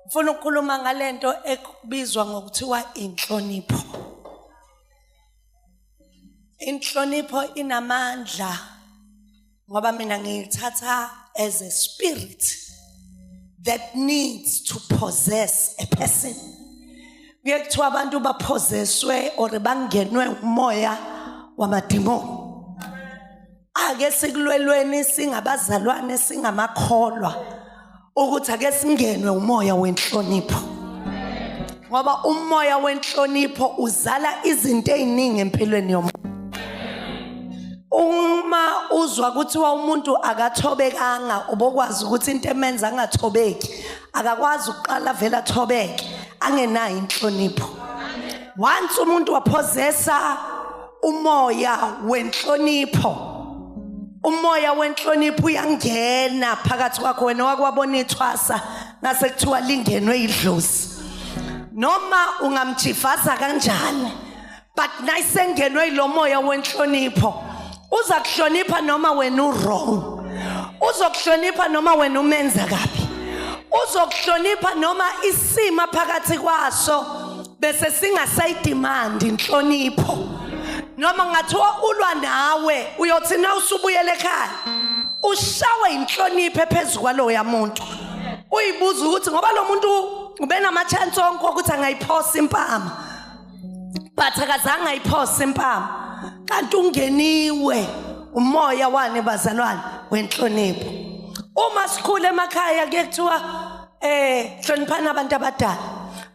Ngifuna ukukhuluma ngalento ekubizwa ngokuthiwa inhlonipho. Inhlonipho inamandla ngoba mina ngiyithatha as a spirit that needs to possess a person. Kuye kuthiwa abantu baphozeswe or bangenwe umoya wamadimoni. ake sikulwelweni singabazalwane singamakholwa ukuthi ake singenwe umoya wenhlonipho ngoba umoya wenhlonipho uzala izinto eziningi empilweni yomuntu uma uzwa kuthiwa umuntu akathobekanga ubokwazi ukuthi into emenza angathobeki akakwazi ukuqala vele athobeke angenayo inhlonipho once umuntu waphozesa umoya wenhlonipho umoya wenhlonipho uyangena phakathi kwakho wena wakwabona ithwasa ngase kuthiwa lingenwe idlozi noma ungamjivaza kanjani but nayisengenwe ilomoya wenhlonipho uza kuhlonipha noma wena uwrong uzokuhlonipha noma wena umenza kabi uzokuhlonipha noma isima phakathi kwaso bese singasayidimandi inhlonipho noma ngathiwa ulwa nawe uyothi na usubuyele ekhaya ushawe inhlonipho phezu kwaloya muntu uyibuza ukuthi ngoba lo muntu ubenama-chance onke okuthi angayiphosa impama but akazange ayiphosa impama kanti ungeniwe umoya wane bazalwane wenhlonipho uma sikhule emakhaya kuye kuthiwa eh hloniphani abantu abadala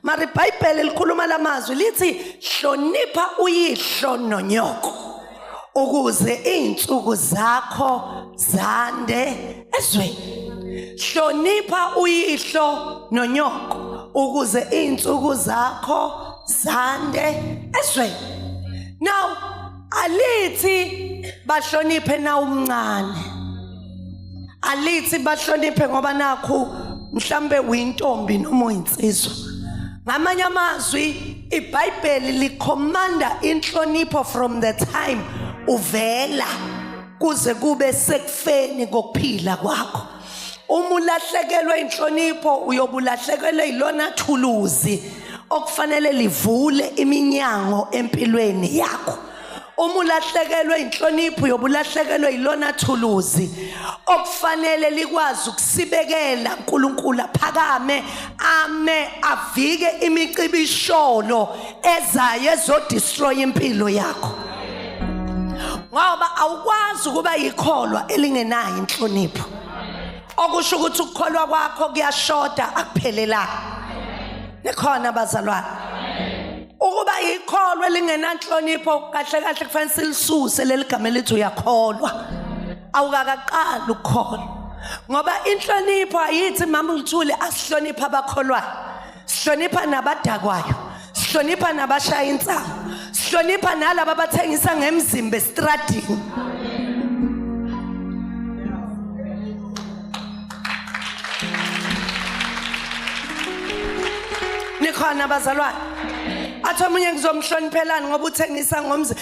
mara ibhayibheli likhuluma la mazwi lithi hlonipha uyihlo nonyoko ukuze izinsuku zakho zande ezweni hlonipha uyihlo nonyoko ukuze izinsuku zakho zande ezweni now alithi bahloniphe na umncane alithi bahloniphe ngoba nakhu mhlambe uyintombi noma uyinsizwa ngamanye amazwi ibhayibheli likhomanda inhlonipho from the time uvela kuze kube sekufeni kokuphila kwakho uma ulahlekelwe inhlonipho uyobulahlekelwe ilona thuluzi okufanele livule iminyango empilweni yakho uma ulahlekelwe inhlonipho uyobulahlekelwe ilona thuluzi okufanele likwazi ukusibekela uNkulunkulu aphakame ame avike imicibisholo ezayo ezodestroy impilo yakho ngoba awukwazi ukuba yikholwa elingenayo inhlonipho okusho ukuthi ukukholwa kwakho kuyashoda akuphelelanga nikhona bazalwane ukuba yikholwa elingenanhlonipho kahle kahle kufanele silisuse leli gama elithi uyakholwa awukakaqali ukukholwa ngoba inhlonipho ayithi mama uthule asihloniphe abakholwayo sihlonipha nabadakwayo sihlonipha nabashaya insango sihlonipha nalabo abathengisa ngemzimba estradini nikhona bazalwane athi omunye ngizomhloniphelani ngoba uthengisa ngomzimba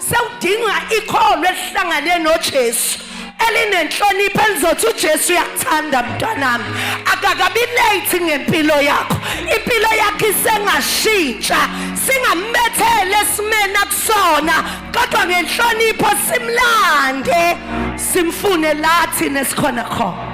sewudinga ikholo elihlangane noJesu elinenhlonipho elizothi uJesu uyakuthanda mntanami akakabi late ngempilo yakho impilo yakho isengashintsha singamethele esimeni akusona kodwa ngenhlonipho simlande simfune lathi nesikhona khona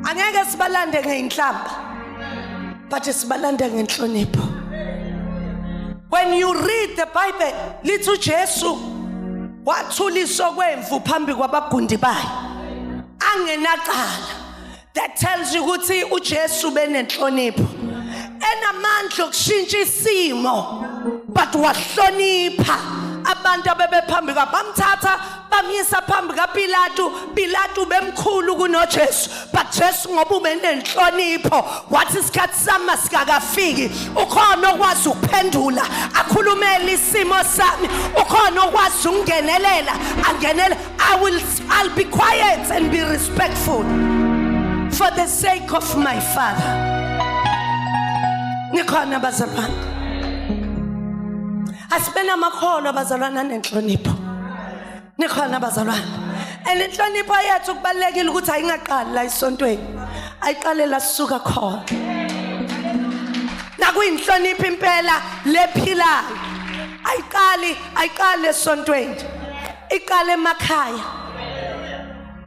angeke sibalande ngeinhlamba but sibalanda ngenhlonipho when you read the bible lithi uJesu wathula isokwemvu phambi kwabagundi bayo angenacala that tells you ukuthi uJesu benenhlonipho enamandla okushintsha isimo but wahlonipha abantu abebephambi kwabo bamthatha bamyisa phambi kapilatu pilatu bemkhulu kunojesu but jesu ngoba ubenenhlonipho wathi isikhathi sami masikakafiki ukhona okwazi ukuphendula akhulumele isimo sami ukhona okwazi ukungenelela angenele i will i'll be quiet and be respectful for the sake of my father nikhona bazalwane asibe namakhono abazalwana nenhlonipho nikhona bazalwane and inhlonipho yethu kubalulekile ukuthi ayingaqali la isontweni ayiqale la sisuka khona nakuyinhlonipho impela lephilayo ayiqali ayiqali esontweni iqale emakhaya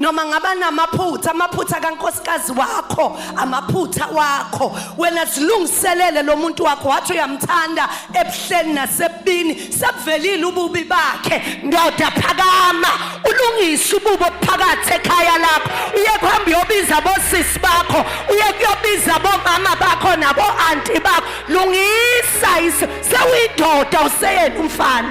noma ngaba namaphutha amaphutha kankosikazi wakho amaphutha wakho wena zilungiselele lo muntu wakho wathi uyamthanda ebuhleni nasebubini sebuvelile ububi bakhe ndoda phakama ulungise ububo phakathi ekhaya lakho uye kuhamba uyobiza bosisi bakho uye kuyobiza bomama bakho nabo-anti bakho lungisa sewuyindoda useyena umfana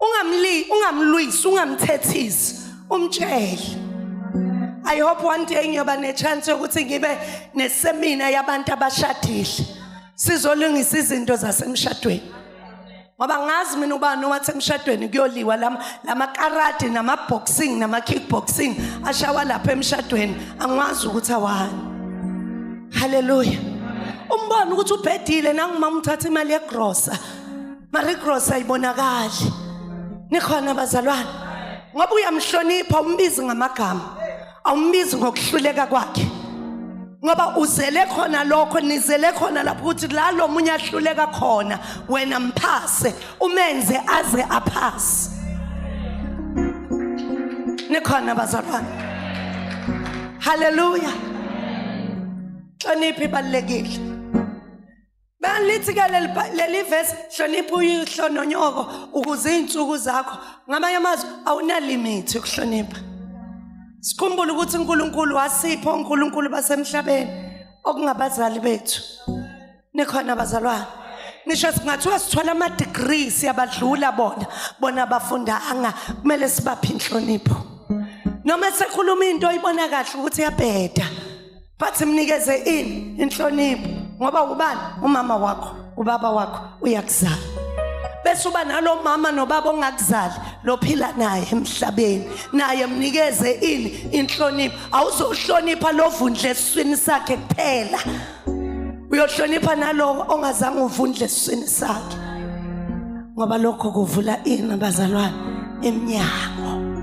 ungamli ungamlwisi ungamthethisi umtshele I hope one day ngiyoba nechance yokuthi ngibe nesemina yabantu abashadile sizolungisa izinto zasemshadweni ngoba ngazi mina ubani owathi emshadweni kuyoliwa lamakarati namaboxing namakickboxing ashawa lapha emshadweni angiwazi ukuthi awani haleluya umbona ukuthi ubhedile nangumama uthatha imali yegrosa Marie Cross ayibonakali nikhona bazalwane ngoba uyamhlonipha umbizi ngamagama awumbizi ngokuhluleka kwakhe ngoba uzele khona lokho nizele khona lapho ukuthi la lo munye ahluleka khona wena mphase umenze aze aphase nikhona bazalwane haleluya hloniphi ibalulekile Balithi ke leli Bi- leli verse hlonipha uyihlo nonyoko ukuze izinsuku zakho ngamanye amazwi awunalimithi ukuhlonipha. Sikhumbule ukuthi uNkulunkulu wasipho uNkulunkulu basemhlabeni okungabazali bethu. Nikhona bazalwane. Ngisho singathiwa sithola ama degrees siyabadlula bona bona abafundanga kumele sibaphe inhlonipho. Noma sekhuluma into oyibona kahle ukuthi yabheda. bathi mnikeze ini inhlonipho ngoba ubani umama wakho ubaba wakho uyakuzala bese uba nalomama nobaba ongakuzali lophila naye emhlabeni naye mnikeze ini inhlonipho awuzohlonipha lovundle esiswini sakhe kuphela uyohlonipha nalowo ongazange uvundle esiswini sakhe ngoba lokho kuvula ini bazalwane emnyango